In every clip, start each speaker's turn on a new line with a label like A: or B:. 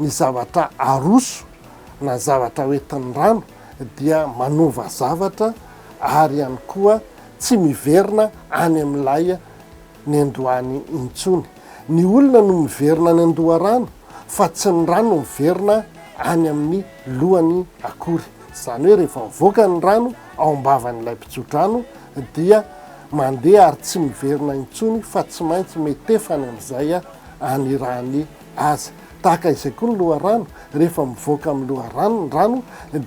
A: Ny zavatra aroso na zavatra hoentin'ny rano dia manova zavatra ary ihany koa tsy miverina any amin'ilay niandohany intsony. Ny olona no miverina any an-doharano fa tsy ny rano miverina any amin'ny lohany akory. Izany hoe rehefa mivoaka ny rano ao am-bavan'ilay mpitsodrano dia mandeha ary tsy miverina intsony fa tsy maintsy mihetefany amin'izay any rany. azy. Tahaka izay koa ny loharano, rehefa mivoaka amin'ny loharano ny rano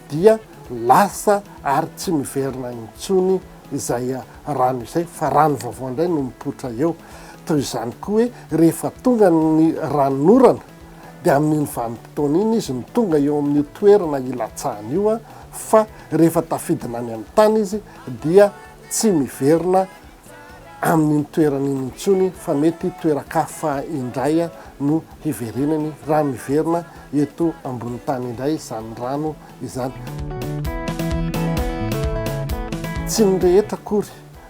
A: dia lasa ary tsy miverina intsony izay rano izay fa rano vaovao indray no mipoitra eo. Toy izany koa hoe rehefa tonga ny ranon'orana dia amin'iny vanim-potoana iny izy no tonga eo amin'io toerana hilatsahany io fa rehefa tafidina any amin'ny tany izy dia tsy miverina amin'iny toerana iny intsony fa mety toeran-kafa indray no hiverenany raha miverina eto ambony tany indray izany rano izany. Tsy ny rehetra akory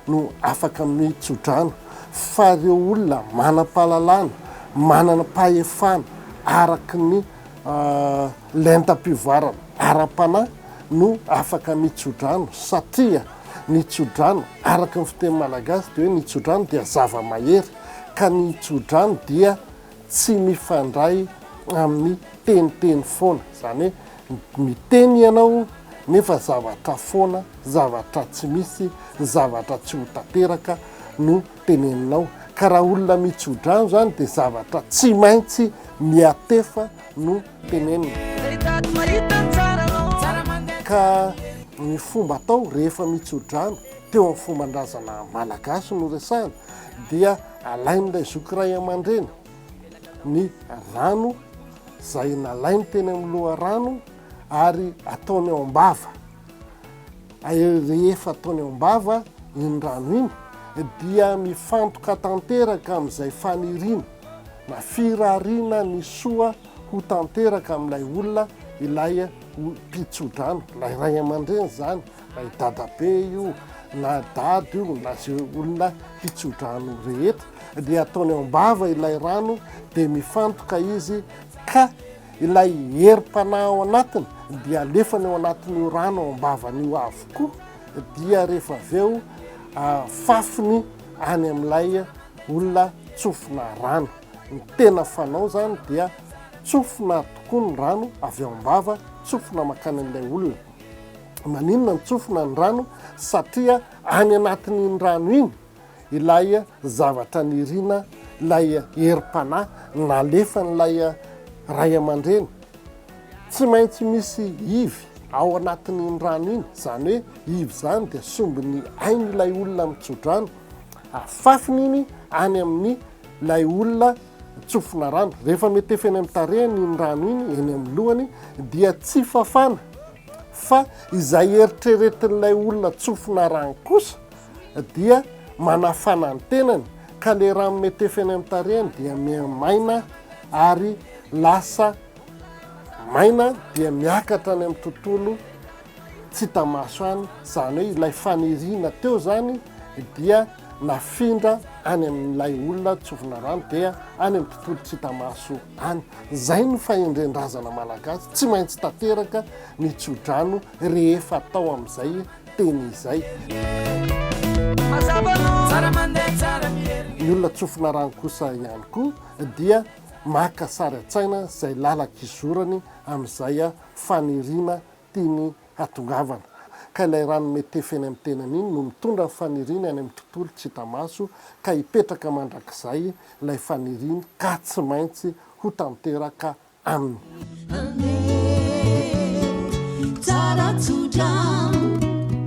A: no afaka manohy tsodrano fa ireo olona manam-pahalalana, mananam-pahefana araka ny lentam-pivoarana ara-panahy no afaka manohy tsodrano satria, Ny tsodrano, araka ny fiteny malagasy dia hoe ny tsodrano dia zava-mahery, ka ny tsodrano dia tsy mifandray amin'ny teniteny foana, izany hoe miteny ianao nefa zavatra foana, zavatra tsy misy, zavatra tsy ho tanteraka no teneninao, ka raha olona mitsodrano izany dia zavatra tsy maintsy miatefa no tenenina. Ka ny fomba atao rehefa mitso-drano teo amin'ny fomban-drazana malagasy no resahana dia alain'ilay zoky ray aman-dreny ny rano izay nalainy teny amin'ny loharano ary ataony ao am-bava. Rehefa ataony ao am-bava iny rano iny dia mifantoka tanteraka amin'izay faniriana na firariana ny soa ho tanteraka amin'ilay olona ilay mpitsodrano, ilay ray aman-dreny izany, ilay dadabe io na dada io na izay olona mpitsodrano rehetra, dia ataony ao am-bava ilay rano dia mifantoka izy ka ilay herim-panahy ao anatiny dia alefany ao anatin'io rano ao am-bavan'io avokoa dia rehefa avy eo afafiny any amin'ilay olona tsofina rano. Ny tena fanao zany dia tsofina tokoa ny rano avy ao am-bava, tsofina mankany amin'ilay olona. Maninona no tsofina ny rano? Satria any anatin'iny rano iny ilay zavatra nirina, ilay herim-panahy nalefan'ilay ray aman-dreny. Tsy maintsy misy ivy ao anatin'iny rano iny, izany hoe ivy izany dia sombin'ny ain'ilay olona mitso-drano. afafiny iny any amin'ny ilay olona tsofina rano. Rehefa metefa eny amin'ny tarehiny iny rano iny, eny amin'ny lohany, dia tsy fafana. Fa izay eritreretin'ilay olona tsofina rano kosa dia manafana ny tenany, ka ilay rano metefa eny amin'ny tarehiny dia miha-maina ary lasa maina dia miakatra any amin'ny tontolo tsy hita maso any, izany hoe ilay faniriana teo izany dia nafindra any amin'ilay olona tsofina rano dia any amin'ny tontolo tsy hita maso any. Izay ny fahendren-drazana malagasy, tsy maintsy tanteraka ny tsodrano rehefa atao amin'izay teny izay. Ny olona tsofina rano kosa ihany koa dia maka sary an-tsaina izay lalan-kizorany amin'izay faniriana tiany hatongavana. Ka ilay rano metefy eny amin'ny tenany iny no mitondra ny faniriany any amin'ny tontolo tsy hita maso ka hipetraka mandrakizay ilay faniriany ka tsy maintsy hotanteraka aminy.